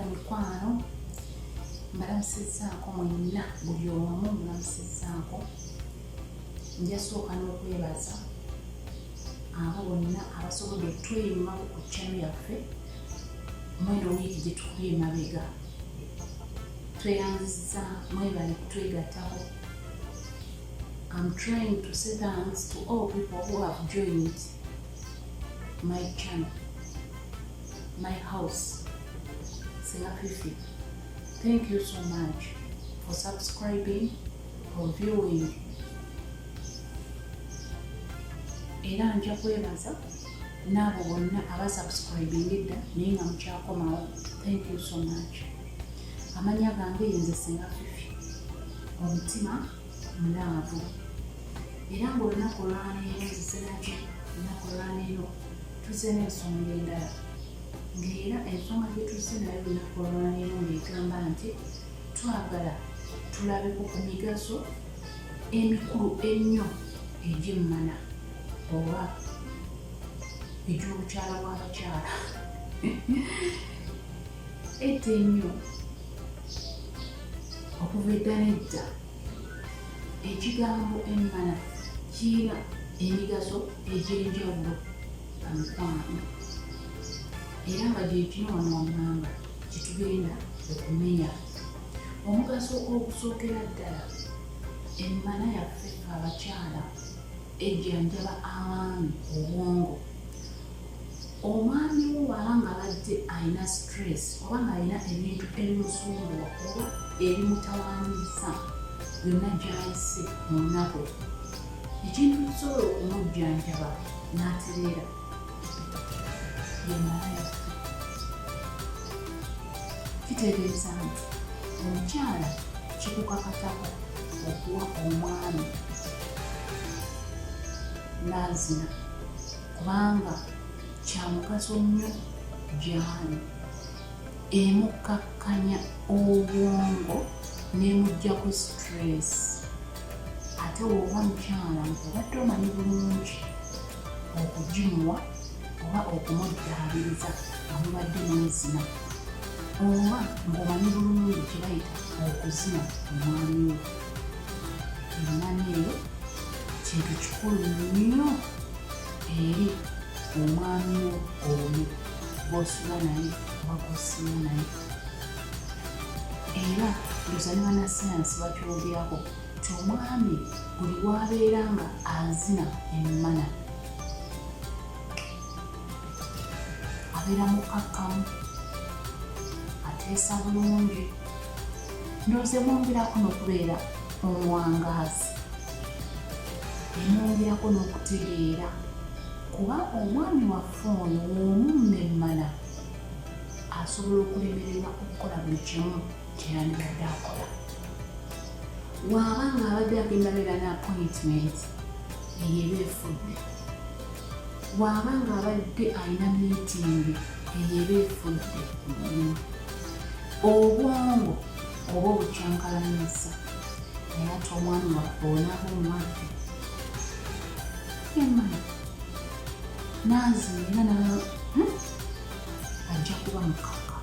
emikwano mbalamusizaako mwenna buli omu mbalamusizaako njasooka n'okwebaza abo bonna abasobodde okutweyimako ku kyano yaffe mweno wiiki gye tukubye emabega tweyanziza mwebale kutwegatako I'm trying to say thanks to all people who have joined my channel, my house, Selafifi. Thank you so much for subscribing, for viewing. Era nja kwebaza n'abo bonna abasubscribing edda naye nga mukyakomawo. Thank you so much. Amanya gange yenze Selafifi. Omutima munaavu era ng'olunaku olwaleero ziseraki olunaku olwaleero tuzze n'ensonga endala ng'era ensonga gye tuzze nayo olunaku olwaleero ng'egamba nti twagala tulabeko ku migaso emikulu ennyo egyemmana oba egy'obukyala bw'abakyala Edda ennyo okuva edda n'edda ekigambo emmana kirina emigaso egy'enjawulo amukwano era nga gyekino wano wammanga kyetugenda okumenya omugaso ogusookera ddala emmana yaffe abakyala ejjanjaba abaami obwongo Omwami wo bwaba nga badde alina stress oba ng'alina ebintu ebimusumbuwa oba ebimutawaanyizza yonna gy'ayise mu nnaku, ekintu ekisobola okumujjanjaba n'atereera ye malaya. Kitegeeza nti omukyala kikukakatako okuwa omwami n'azina. kubanga kyamugaso nnyo gyali emukkakkanya obwongo nemugjako stress ate woba mukyala obadde omanyi bulungi okugimuwa oba okumuddaabiriza amubadde nezina oba ngaomanyi bulungi kyebayita okuzina omwami we emana eyo kintu kikulu nnyo eri omwami wo oyo gwosula naye oba gwosula naye era luzanyiba na sayansi bakyogerako nti omwami buli wabeera nga azina emmana abeera mukakkamu ateesa bulungi ndoze mwongerako nokubeera omuwangaazi neyongerako n'okutegeera kuba omwami waffe ono w'omummemmana asobola okulemererwa okukola buli kimu kyeyandibadde akola waaba nga abadde agenda beera ne appointment eyo eba efudde waaba nga abadde alina miitingi eyo eba efudde obwongo oba obukyankalanyisa Nayata omwami waffe onaaba omwaffe emana naazi era na hmm? ajja kuba mukaka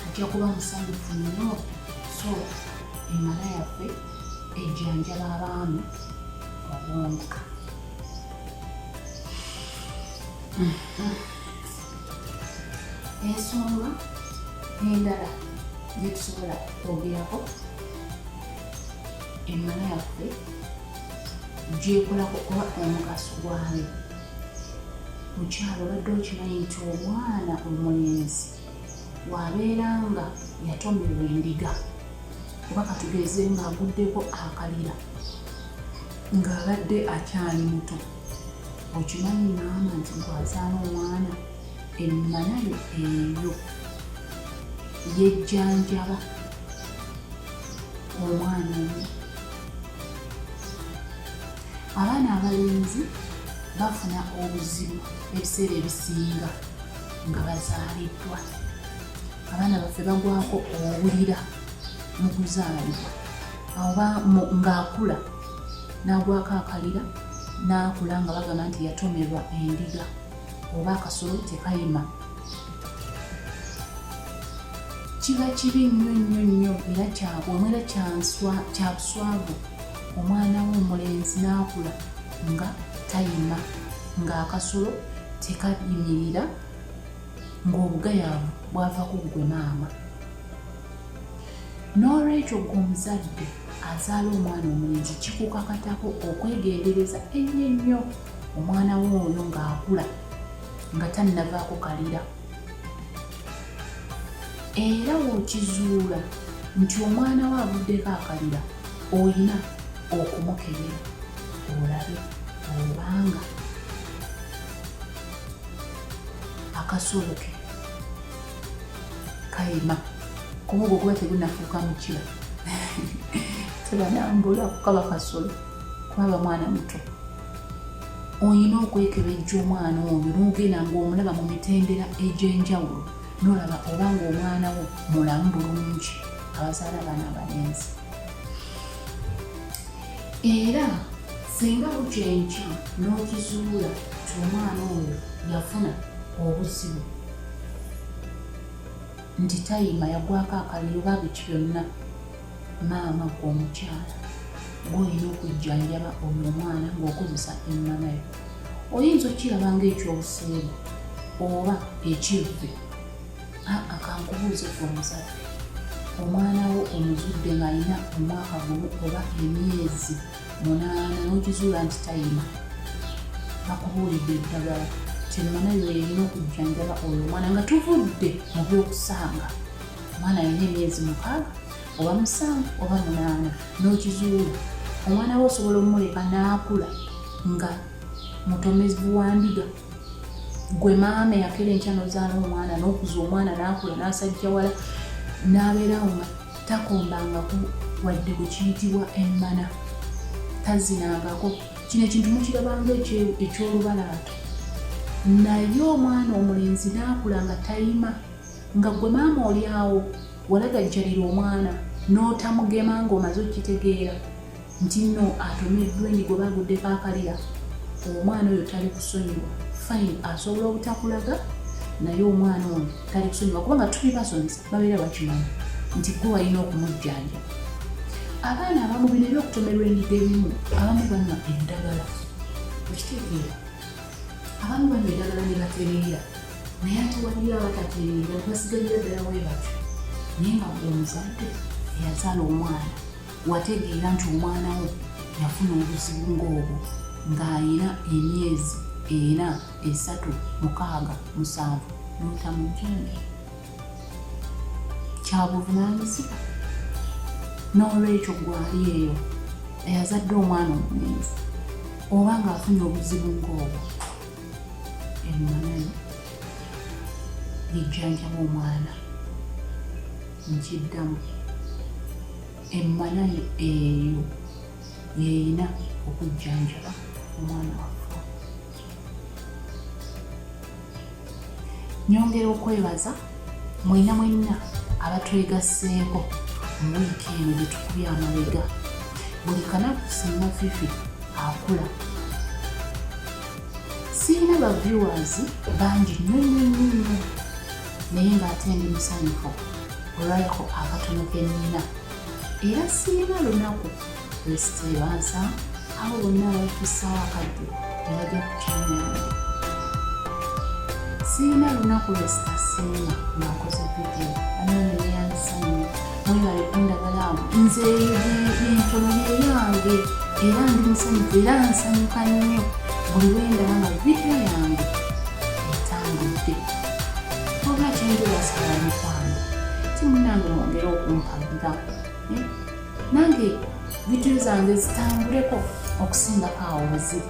ajja kuba musanyufu nnyo so emala yaffe ejjanjaba abaami obwongo Mm-hmm. ensonga endala zetusobola kwogerako emana yaffe gyekolako oba omugaso gwayo mukyalo obadde okimanyi nti omwana omulenzi wabeera nga yatomerwa endiga oba katugeze ngaaguddeko akalira ng'abadde akyali muto okimanyi maama nti gwazaala omwana emmanayo eyo yejjanjaba omwana omu abaana abalenzi bafuna obuzibu ebiseera ebisinga nga bazaaliddwa abaana baffe bagwako obulira mu kuzaalibwa oba ng'akula n'agwako akalira n'akula nga bagamba nti yatomerwa endiga oba akasolo tekayima kiba kibi nnyo nnyo nnyo era kyabwamu era kyabuswavu omwana we omulenzi n'akula nga tayima ng'akasolo tekayimirira ng'obugayaavu bwava ku ggwe maama n'olwekyo gwe omuzadde azaala omwana omulenzi kikukakatako okwegendereza ennyo ennyo omwana we oyo ng'akula nga tannavaako kalira era wokizuula nti omwana we avuddeko akalira olina okumukebera olabe obanga akasolo ke kayima kumugo kuba tegunafuuka mukira tebanambula kukaba kasolo kubaba mwana muto olina okwekebejja omwana oyo nogenda ngaomulaba mu mitendera egy'enjawulo nolaba oba ngaomwana wo mulamu bulungi abazaala abaana abalenzi era singa bukya enkya n'okizuula ti omwana oyo yafuna obuzibu nti tayima yagwako akaliro oba biki byonna maama gwe omukyala gwolina okujjanjaba oyo omwana ng'okozesa emmama yo oyinza okukiraba ngaekyobuseegu oba ekivve aa kankubuuze ku omuzadde omwana wo omuzudde ng'alina omwaka gumu oba emyezi munaana n'okizuula nti tayima bakubuulidde eddagala kyemmana lweyina okujjanjaba oyo omwana nga tuvudde mu byokusanga omwana alina emyezi mukaaga oba musanvu oba munaana n'okizuula omwana we osobola omuleka n'akula nga mutomezi wa ndiga gwe maama eyakera enkya nozaala omwana nokuza omwana nakula nasajja wala nabeerawo nga takombangaku wadde bwekiyitibwa emmana tazinangako kino ekintu mukirabanga ekyolubalaato naye omwana omulenzi nakula nga tayima nga gwe maama olyawo walagajjalira omwana notamugema ngaomaze okitegeera nti nno atomeddwa enyigo bagudde kakalira omwana oyo tali kusonyiwa fine asobola obutakulaga naye omwana ono tali kusonyiwa kubanga tuli basomesa babeera bakimanyi nti gwe walina okumujjanja abaana abamu bino ebyokutomerwa enyigo ebimu abamu banywa endagala okitegeera abamu banywa endagala ne batereera naye ate waliyo abatatereera nebasigalira ddala webatyo naye nga gwe omuzadde eyazaala omwana wategeera nti omwana wo yafuna obuzibu ng'obwo ng'alina emyezi ena esatu mukaaga musanvu notamujjembe kyabuvunaanyizibwa n'olwekyo gwali eyo eyazadde omwana omulenzi oba ng'afunye obuzibu ng'obwo emmanano lijjanjaba omwana nkiddamu emmanayo eyo yeyina okujjanjaba omwana waffe nyongera okwebaza mwena mwenna abatwegasseeko mu wiiki eno gyetukubye amabega buli kanaku singa fifi akula sirina baviewers bangi nyonyonyonyo naye ng'ate ndi musanyufu olwayako akatono ke nnina era sirina lunaku lwesiteebansa abo bonna abatusaawo akadde ne bajja ku kyamyange sirina lunaku lwesitasiima ng'akoze vidiyo anooneneyandisanyo webale kundagala nze entono yeyange era ndi musanyufu era nsanyuka nnyo buli wendaba nga vidiyo yange etambudde wabula kyenjebasala mikwano timunange mwongere okumpagira eh? nange vidiyo zange zitambuleko okusingako awo weziri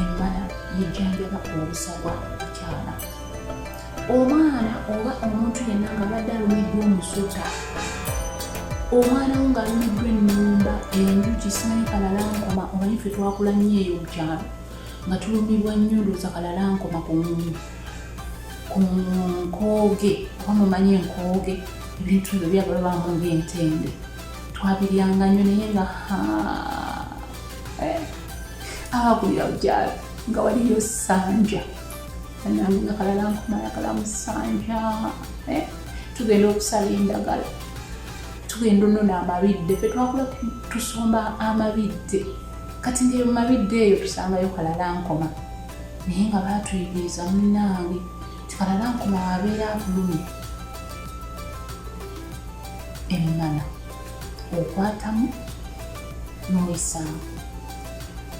embala yejjanjaba obusagwa mukyala omwana oba omuntu yenna nga badde alumiddwa omusota omwana wo ng'alumiddwa ennumba enjuki simanyi kalalankoma omanyi fe twakula nnyo eyo mukyalo nga tulumibwa nnyo ndooza kalalankoma ku nkooge oba mumanyi enkooge ebintu ebyo byagala bamu ng'entende twabiryanga nnyo naye nga haa eh. akulira bukyala nga waliyo sanja anange nga kalala nkumala kala musanja eh? tugenda okusala endagala tugenda onona amabidde fe twakula tusomba amabidde kati ngaeyo mumabidde eyo tusangayo kalala nkoma naye nga batuyigiriza munange tikalala nkoma wabeera abulumi emmana okwatamu n'oyisaamu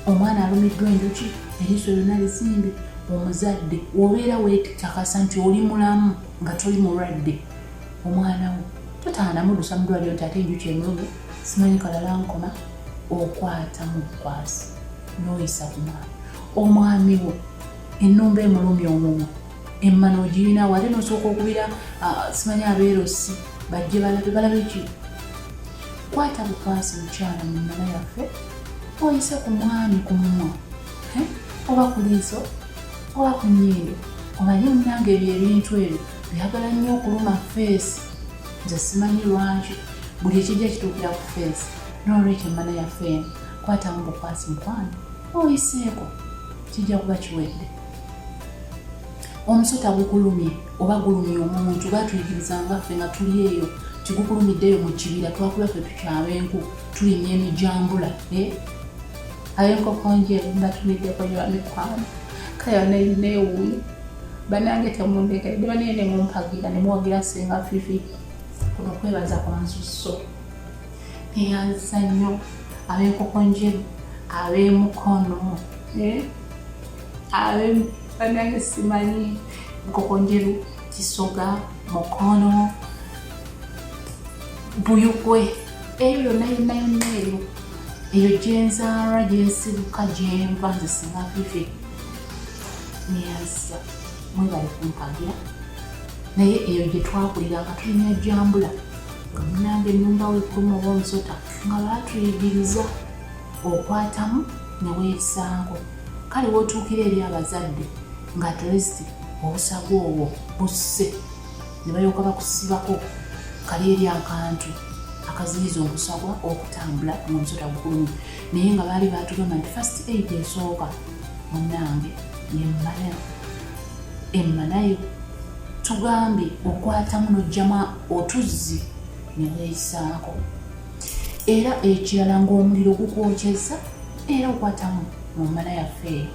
omwana alumiddwa enjuki eriiso lyonna lizimbe omuzadde obeera wetakasa nti oli mulamu nga toli mulwadde omwana wo totaanamudusa mudwaliro nti ate enjuki emulumi simanyi kalala nkoma okwata mu bukwasi n'oyisa ku mwana omwami wo ennumba emulumya omumwa emmana ogirina wate nosooka okubira simanyi abeerosi bajje balabe balabe ki kwata bukwasi mukyala mu mmana yaffe oyise ku mwami ku mumwa oba ku liiso oba ku nyindo omanye munange ebyo ebintu ebyo byagala nnyo okuluma feesi nze simanyi lwaki buli ekijja kituukira ku feesi nolwekyo emmana yaffe eno kwatamu bukwasi mukwano oyiseeko kijja kuba kiwedde omusota gukulumye oba gulumye omuntu batuyigiriza nga ffe nga tuli eyo tigukulumiddeeyo mu kibira twakula ffe tukyaba enku tulinya emijambula eh? aye enkoko nje mbatumiddeko nyo bamikwano kale banainewuuyo banange temundekedde banaye nemumpagira nemwogira singa fifi kuno kwebaza kwansusso neyanza nnyo abenkoko njeru abemukono eh? banange simanyi nkokonjeru kisoga mukono buyugwe eyo yonna yonna yonna eyo eyo gyenzaala gyensibuka gyenva nze singa vivi neyazza mwebali kumpagira naye eyo gye twakulira nga tulina ejambula nga munange ennumba wekuluma oba omusota nga baatuyigiriza okwatamu ne weesaango kale wotuukira eri abazadde nga atleast obusago obwo busse ne balyoka bakusibako kali eri akantu akaziyiza omusagwa okutambula ngaomusota gukulumi naye nga baali batugamba nti fast aid esooka munange yemmana emmanayo tugambye okwatamu nojjama otuzzi ne weeyisaako era ekirala ng'omuliro gukwokyezza era okwatamu mu mmala yaffe eyo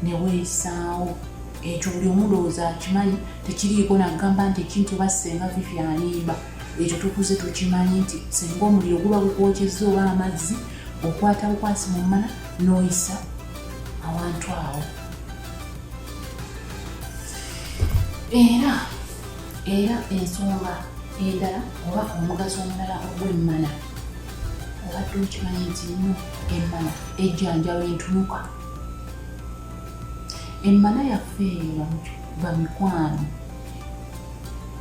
ne weeyisaawo ekyo buli omulowooza akimanyi tekiriiko nagamba nti ekintu oba senga vivi alimba ekyo tukuze tukimanyi nti senga omuliro guba gukwokyezza oba amazzi okwata bukwasi mu mmala n'oyisa awantu awo era era ensonga endala oba omugaso omulala ogw'emmana obadde okimanyi nti nnyo emmana ejjanjaba entunuka emmana yaffe eyo bamikwano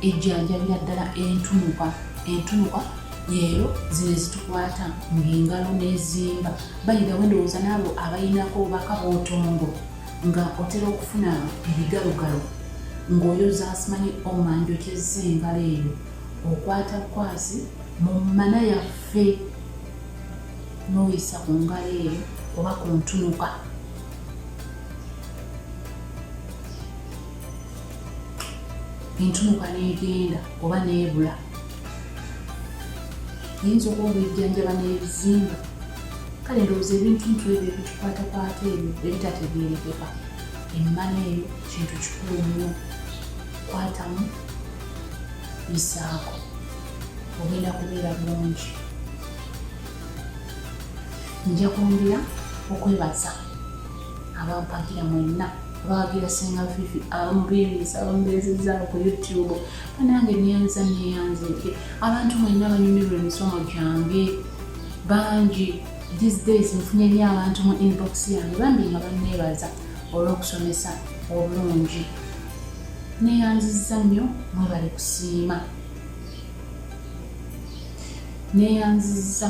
ejjanjabira ddala entunuka entunuka leero zino ezitukwata ng'engalo n'ezimba bayira wendowooza naabo abalinako obubaka bwotongo nga otera okufuna ebigalogalo ng'oyoza simanyi omanji okyezza engalo eyo okwata kwasi mu mmana yaffe n'oyisa ku ngalo eyo oba ku ntunuka entunuka n'egenda oba n'ebula yinza okuba ng'ejjanjaba n'ebizimba kale ndowooza ebintuntu ebyo ebitukwatakwata ebyo ebitategeerekeka emmana eyo kintu kikulu nnyo kwatamu bisaako ogenda kubeera bulungi nja kwongera okwebaza abampagira mwenna abawagira senga fifi abamubiiriza abamubeezezza ku youtube nange neyanza neyanza eki abantu mwenna banyumirwa emisomo gyange bangi these days nfunye nyo abantu mu inbox yange bambi nga banneebaza olw'okusomesa obulungi neyanziza nnyo mwebale kusiima neyanziza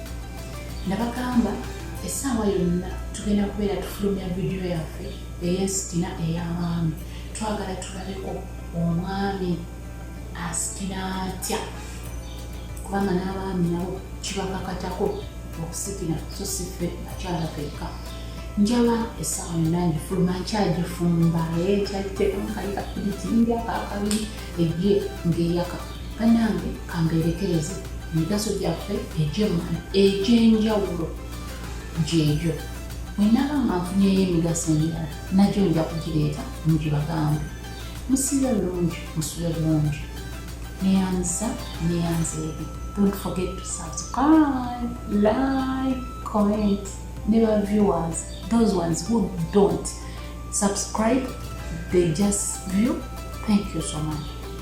nabagamba essaawa yonna tugenda kubeera tufulumya vidiyo yaffe eyesitina ey'abaami twagala tulabeko omwami asitina atya kubanga n'abaami nabo kibakakatako okusitina so siffe akyala fekka njaba essaawa yonna ngifuluma nkyagifumba ekyagiteekamu kali kapiritinga akakabiri egye ngeyaka banange kambeerekereze emigaso gyaffe egyemwana egyenjawulo gyegyo bwenaba nga nfunyeyo emigaso emirala nagyo nja kugireeta mugibagambe musibe bulungi musule bulungi neyanza neyanza ebi don't forget to subscribe like comment ne ba viewers those ones who don't subscribe they just view thank you so much